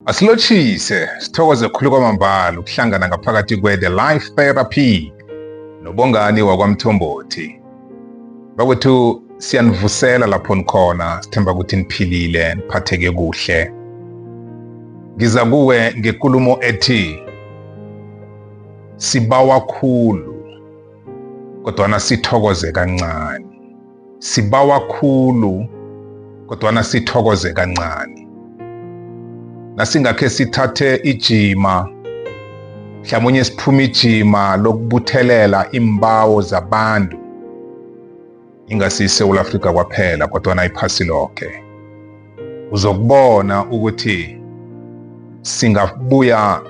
Asilotshise, sithokoze khulu kwamambala ukuhlangana ngaphakathi kwe-The Life Therapy nobongani wakwamthombothi. Bakwethu siyanivusela lapho nikhona, sithemba ukuthi niphilile, niphatheke kuhle. Ngiza kuwe ngekulumo ethi sibawa khulu kodwana sithokoze kancane. Sibawa khulu kodwana sithokoze kancane. Nasingakhe sithathe ijima mhlamunye siphuma ijima lokubuthelela iimbawo zabantu ingasi iSewula Afrika kwaphela kodwana iphasi loke. uzokubona ukuthi singabuya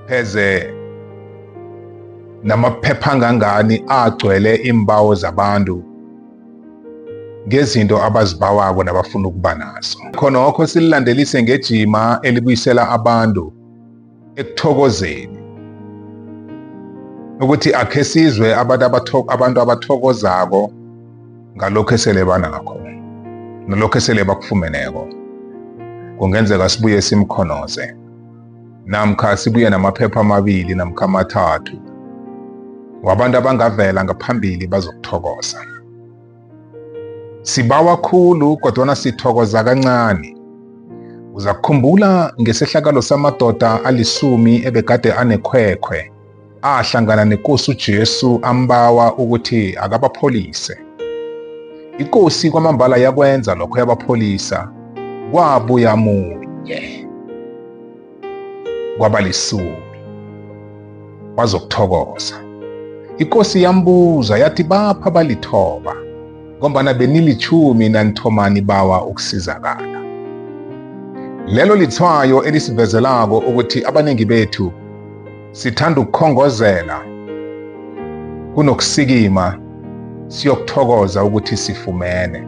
pheze namaphepha angangani agcwele iimbawo zabantu ngezinto abazibawako nabafuna ukuba nazo khonokho sililandelise ngejima elibuyisela abantu ekuthokozeni ukuthi akhe sizwe abantu abantu abathokozako ngalokho esele banakho nalokho esele bakufumeneko kungenzeka sibuye simkhonoze namkha sibuye namaphepha amabili namkha amathathu wabantu abangavela ngaphambili bazokuthokoza Sibawa khulu kodwana sithokoza kancani. Uzakukhumbula ngesehlakalo samadoda alisumi ebegade anekhwekhwe, ahlangana neKosi uJesu ambawa ukuthi akabapholise. IKosi kwamambala yakwenza lokho yabapholisa, kwabuya munye. kwabalisumi wazokuthokoza ikosi yambuza yathi bapha balithoba ngombana benilitjhumi nanithomani bawa ukusizakala lelo litshwayo elisivezelako ukuthi abaningi bethu sithanda ukukhongozela kunokusikima siyokuthokoza ukuthi sifumene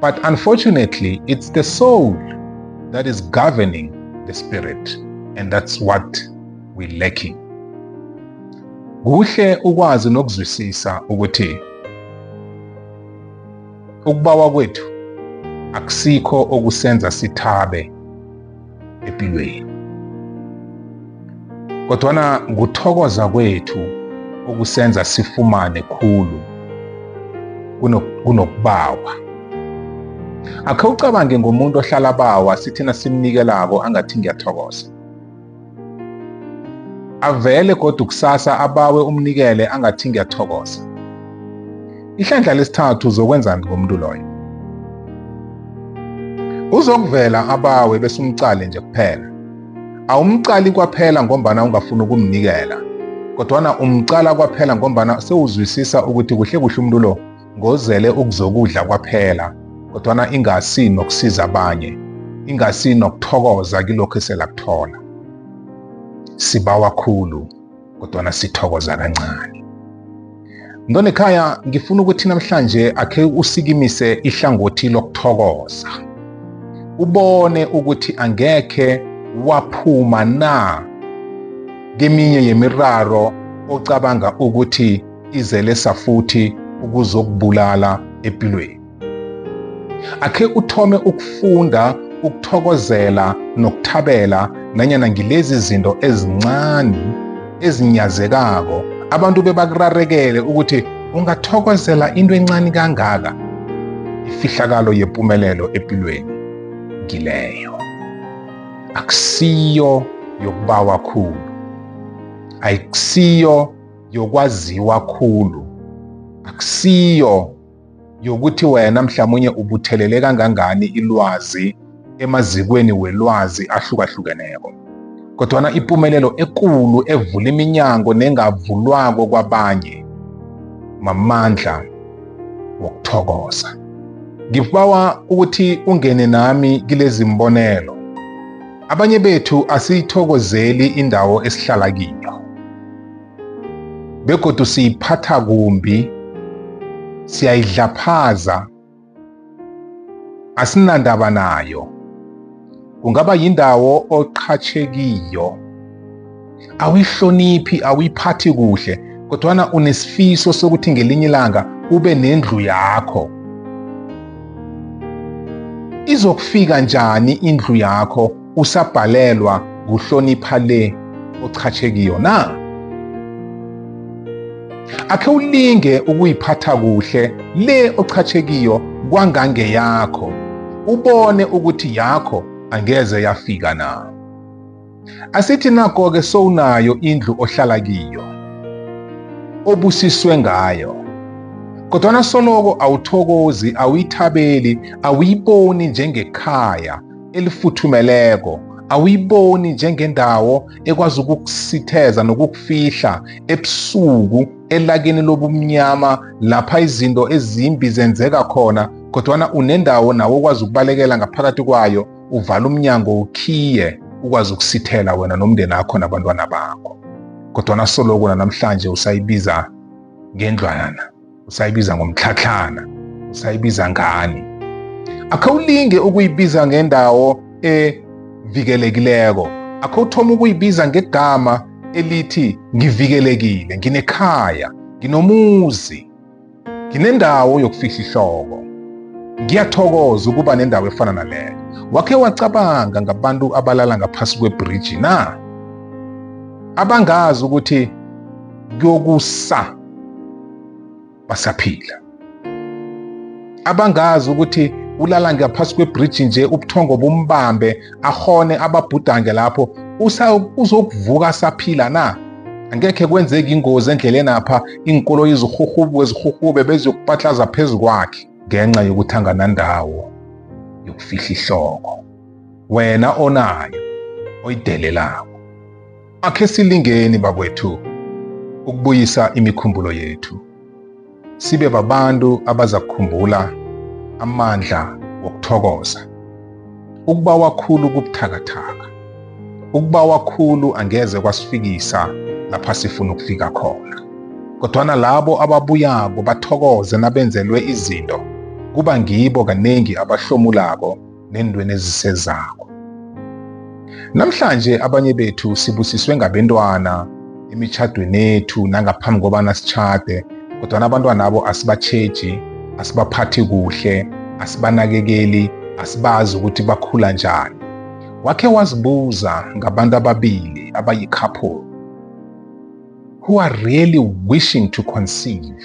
But unfortunately, it's the soul that is governing the spirit, and that's what we're lacking. Kuhle ukwazi nokuzwisisa ukuthi ukubawa kwethu akusikho okusenza sithabe epilweni. Kodwana kuthokoza kwethu okusenza sifumane khulu kunokubawa. Akhe ucabange ngomuntu ohlala bawa sithina simnikelako angathi ngiyathokoza. Avele godu kusasa abawe umnikele angathi ngiyathokoza. Ihlandla lesithathu uzokwenzani ngomuntu loyo? Uzokuvela abawe bese umcale nje kuphela. Awumcali kwaphela ngombana ungafuni ukumnikela, kodwana umcala kwaphela ngombana sewuzwisisa ukuthi kuhle kuhle umuntu lo ngozele ukuzokudla kwaphela kodwana ingasi nokusiza abanye ingasi nokuthokoza kilokho eselakuthola sibawa khulu kodwana sithokoza kancane mntwana ekhaya ngifuna ukuthi namhlanje akhe usikimise ihlangothi lokuthokoza ubone ukuthi angekhe waphuma na keminye yemiraro ocabanga ukuthi izelesa futhi ukuzokubulala empilweni. Akhe uthome ukufunda ukuthokozela nokuthabela nanyana ngilezi zinto ezincane ezinyazekako abantu bebakurarekele ukuthi ungathokozela into encane kangaka ifihlakalo yempumelelo empilweni ngileyo akusiyo yokubawa khulu ayikusiyo yokwaziwa khulu akusiyo yokuthi wena mhlawumunye ubuthelele kangangani ilwazi emazikweni welwazi ahlukahlukeneko kodwana ipumelelo ekulu evula iminyango nengavulwako kwabanye mamandla wokuthokoza ngibawa ukuthi ungene nami kilezi mbonelo abanye bethu asiyithokozeli indawo esihlala kiyo begodu siyiphatha kumbi siyayidlaphaza asinandaba nayo kungaba yindawo oqhatshe kiyo awihloniphi awuyiphathi kuhle kodwana unesifiso sokuthi ngelinye ilanga ube nendlu yakho izokufika njani indlu yakho usabhalelwa kuhlonipha le ochatshe kiyo na? Akhe ulinge ukuyiphatha kuhle le ochatshe kiyo kwangangeyakho, ubone ukuthi yakho angeze yafika na. Asithi nako-ke sowunayo indlu ohlala kiyo, obusiswe ngayo, kodwana soloko awuthokozi, awuyithabeli, awuyiboni njengekhaya elifuthumeleko awuyiboni njengendawo ekwazi ukukusitheza nokukufihla ebusuku elakini lobumnyama lapha izinto ezimbi zenzeka khona kodwana unendawo nawo okwazi ukubalekela ngaphakathi kwayo uvala umnyango ukhiye ukwazi ukusithela wena nomndeni akho nabantwana bakho kodwana soloko nanamhlanje usayibiza ngendlwana usayibiza ngomtlhatlhana usayibiza ngani akhawulinge ukuyibiza ngendawo evikelekileko akhawuthoma ukuyibiza ngegama elithi ngivikelekile nginekhaya nginomuzi nginendawo yokufihla ihloko ngiyathokoza ukuba nendawo efana naleyo wakhe wacabanga ngabantu abalala ngaphasi kwebhriji na abangazi ukuthi kuyokusa basaphila abangazi ukuthi ulala ngaphasi kwebhriji nje ubuthongo bumbambe ahone ababhudange lapho uzokuvuka asaphila na angekhe kwenzeki ingozi endleleni apha iinkoloyi zirhurhubuke zirhurhube beziyokupatlaza phezu kwakhe ngenxa yokuthi anganandawo yokufihla ihloko wena onayo oyidelelako Akhe silingeni bakwethu ukubuyisa imikhumbulo yethu, sibe babantu abazakukhumbula amandla wokuthokoza, ukuba wakhulu kubuthakathaka, ukuba wakhulu angeze kwasifikisa lapha sifuna ukufika khona. Kodwana labo ababuyako bathokoze nabenzelwe izinto, kuba ngibo kanengi abahlomulako neentweni ezisezako. Namhlanje abanye bethu sibusiswe ngabentwana emitjhadwenethu nangaphambi kobana sitjhade kodwana abantwanabo asibatjheji, asibaphathi kuhle, asibanakekeli, asibazi ukuthi bakhula njani. Wakhe wazibuza ngabantu ababili abayi-couple who are really wishing to conceive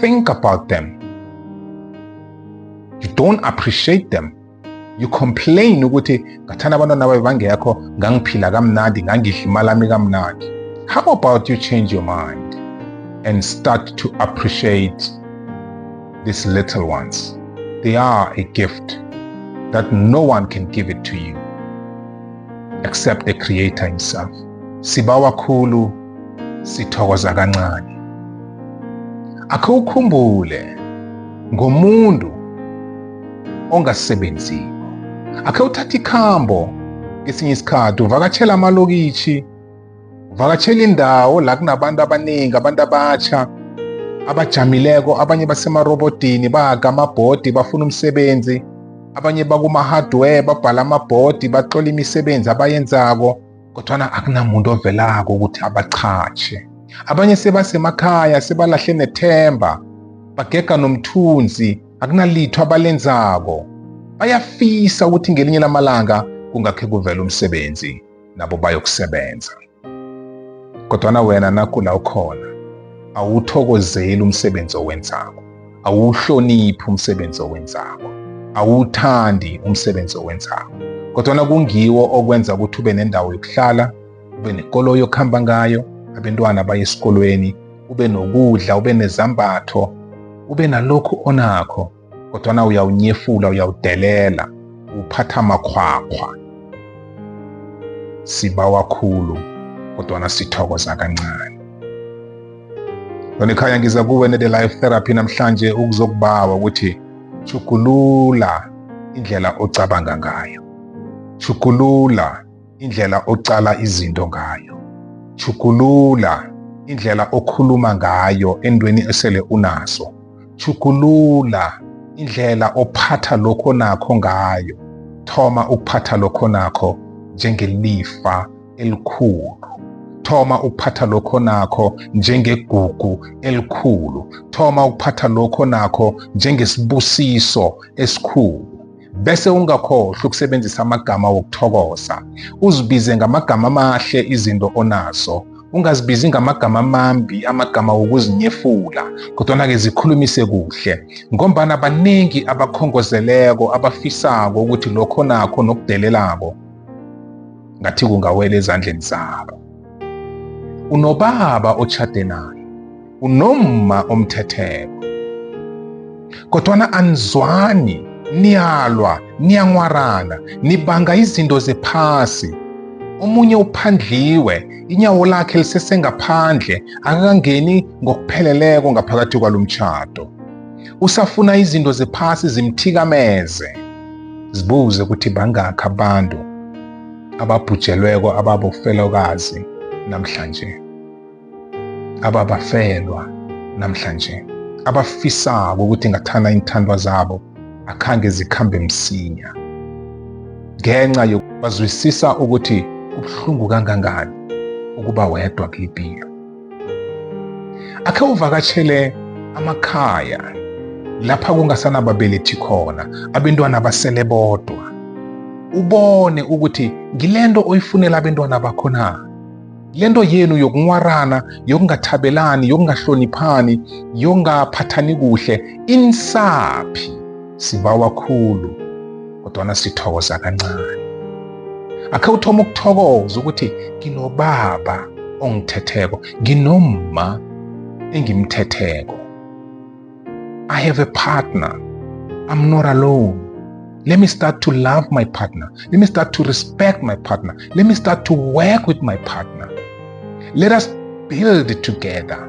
think about them. You don't appreciate them. You complain ukuthi ngathanda abantwana babe bangekho ngangiphila kamnandi ngangidla imali ami kamnandi. How about you change your mind and start to appreciate these little ones? They are a gift that no one can give it to you except the Creator Himself. Sibawa Kulu sithokoza kancane. Akhe ukhumbule ngomuntu ongasebenziko. Akhe uthathe ikhambo kesinye isikhathi uvakatshela amalokitjhi, uvakatshela indawo la kunabantu abaningi, abantu abatjha abajamileko, abanye basemarobodini bahaga amabhodi bafuna umsebenzi, abanye bakuma-hardware babhala amabhodi batlola imisebenzi abayenzako. kodwana akunamuntu ovelako ukuthi abachatjhe abanye sebasemakhaya sebalahle nethemba bagega nomthunzi akunalitho abalenzako bayafisa ukuthi ngelinye lamalanga kungakhe kuvela umsebenzi nabo bayokusebenza kodwana wena nakula ukhona awuthokozeli umsebenzi owenzako awuhloniphi umsebenzi owenzako awuthandi umsebenzi owenzako kodwana kungiwo okwenza ukuthi ube nendawo yokuhlala ube nekoloyi yokuhamba ngayo abentwana baye esikolweni ube nokudla ube nezambatho ube nalokhu onakho kodwana uyawunyefula uyawudelela uphatha amakhwakhwa sibawa khulu kodwana sithokoza kancane Lonikhaya ngiza kuwe ne-The Life Therapy namhlanje ukuzokubawa ukuthi chugulula indlela ocabanga ngayo. Chugulula indlela ocala izinto ngayo. Chugulula indlela okhuluma ngayo endweni esele unaso. Chugulula indlela ophatha lokho nakho ngayo thoma ukuphatha lokho nakho njengelifa elikhulu thoma ukuphatha lokho nakho njengegugu elikhulu thoma ukuphatha lokho nakho njengesibusiso esikhulu bese ungakhohlwa ukusebenzisa amagama wokuthokoza uzibize ngamagama amahle izinto onazo ungazibizi ngamagama amambi amagama wokuzinyefula kodwana-ke zikhulumise kuhle ngombana baningi abakhongozeleko abafisako ukuthi lokho nakho nokudelelako ngathi kungawela ezandleni zabo unobaba otshade naye unomma omthetheko kodwana anizwani niyalwa niyanwarana nibanga izinto zephasi omunye uphandliwe inyawo lakhe lisesengaphandle akakangeni ngokupheleleko ngaphakathi kwalo mtjhado usafuna izinto zephasi zimthikameze Zibuze ukuthi bangakhi abantu ababhujelweko ababofelokazi namhlanje, ababafelwa namhlanje, abafisako ukuthi ngathana iinthandwa zabo akhange zikhambe msinya ngenxa yokubazwisisa ukuthi kubuhlungu kangangani ukuba wedwa kuyipilo. akhe uvakatshele amakhaya lapha kungasanababelethi khona abentwana basele bodwa ubone ukuthi ngilento oyifunela abentwana bakho na lento yenu yokunwarana yokungathabelani yokungahloniphani yokungaphathani kuhle insaphi sibawa khulu kodwana sithokoza kancane akhe uthoma ukuthokoza ukuthi nginobaba ongithetheko nginomma engimthetheko i have a partner i'm not alone let me start to love my partner let me start to respect my partner let me start to work with my partner let us build together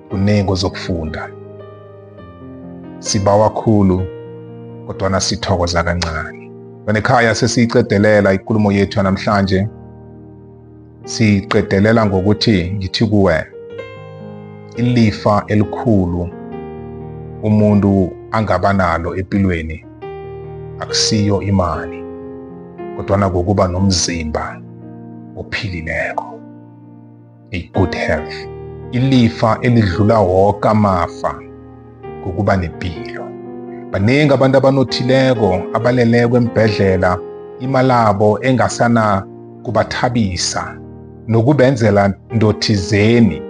kunengi ozokufunda sibawa khulu kodwana sithokoza kancane banekhaya sesiyiqedelela ikulumo yethu yanamhlanje siyiqedelela ngokuthi ngithi kuwe ilifa elikhulu umuntu angaba nalo empilweni akusiyo imali kodwana kokuba nomzimba ophilileko a good health. Ilifa elidlula woke amafa ngokuba nepilo. Baningi abantu abanothileko abaleleko embhedlela imalabo engasana kubathabisa nokubenzela ndothizeni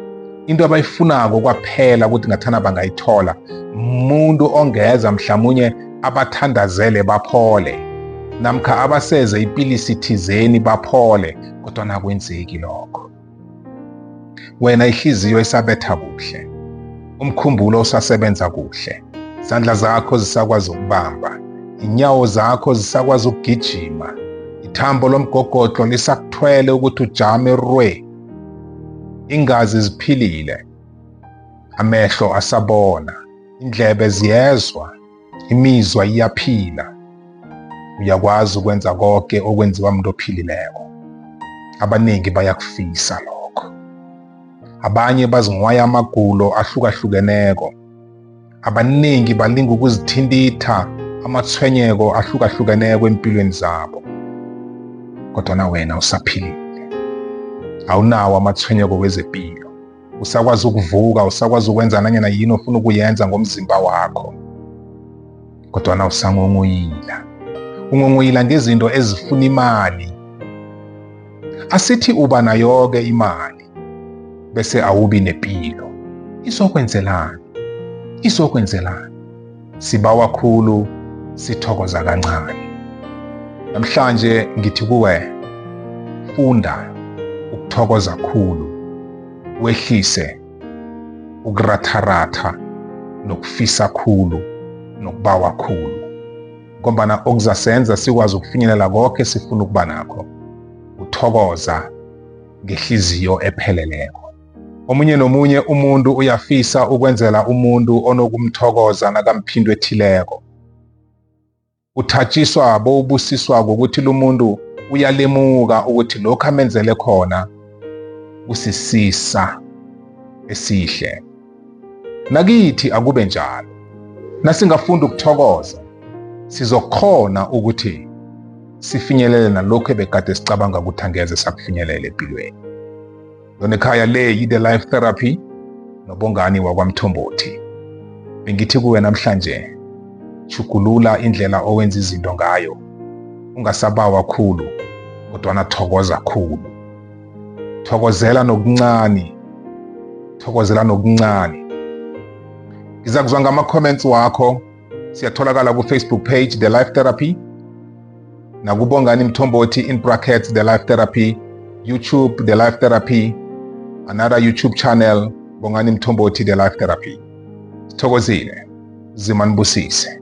into abayifunako kwaphela ukuthi ngathana bangayithola umuntu ongeza mhlamunye abathandazele baphole namkha abaseze ipilisi thizeni baphole kodwa nakwenzeki lokho wena ihliziyo isabetha kuhle umkhumbulo usasebenza kuhle izandla zakho zisakwazi ukubamba inyawo zakho zisakwazi ukugijima ithambo lomgogodlo lisakuthwele ukuthi ujame rwe ingazi ziphilile amehlo asabona indlebe ziyezwa Imizwa iyaphila. Uyakwazi ukwenza konke okwenziwa umuntu ophilileko. Abaningi bayakufisa lokho. Abanye bazinghwaya amagulo ahlukahlukeneko. Abaningi balinga ukuzithintitha amatshwenyeko ahlukahlukeneko empilweni zabo. Kodwana wena usaphilile. Awunawo amatshwenyeko wezepilo. usakwazi ukuvuka usakwazi ukwenza nanyana yini ofuna ukuyenza ngomzimba wakho kodwana usangongoyila ungongoyila ngezinto ezifuna imali asithi uba nayoke imali bese awubi nepilo izokwenzelani izokwenzelani Sibawa khulu, sithokoza kancane. Namhlanje ngithi kuwe, funda ukuthokoza khulu, wehlise ukuratharatha nokufisa khulu nokubawa khulu ngombana okuzasenza sikwazi ukufinyelela konke sifuna ukuba nakho uthokoza ngehliziyo epheleleko Omunye nomunye umuntu uyafisa ukwenzela umuntu onokumthokoza nakamphindwe ethileko. Uthatjiswa bowubusiswa ngokuthi lumuntu uyalemuka ukuthi lokho amenzele khona kusisisa esihle. Nakithi akube njalo. Nasingafunda ukuthokoza, sizokhona ukuthi sifinyelele nalokho ebegade sicabanga ukuthi angeze sakufinyelela empilweni. Yona ekhaya le yi-The Life Therapy nobongani wakwamthombothi. Bengithi kuwe namhlanje, chugulula indlela owenza izinto ngayo. Ungasabawa khulu, kodwana thokoza khulu. Thokozela nokuncani, thokozela nokuncani. Ngiza kuzwa ngama-comments wakho siyatholakala ku-facebook page the life therapy nakubongani mthombothi in brackets the life therapy youtube the life therapy another youtube channel bongani mthombothi the life therapy sithokozile zima nibusise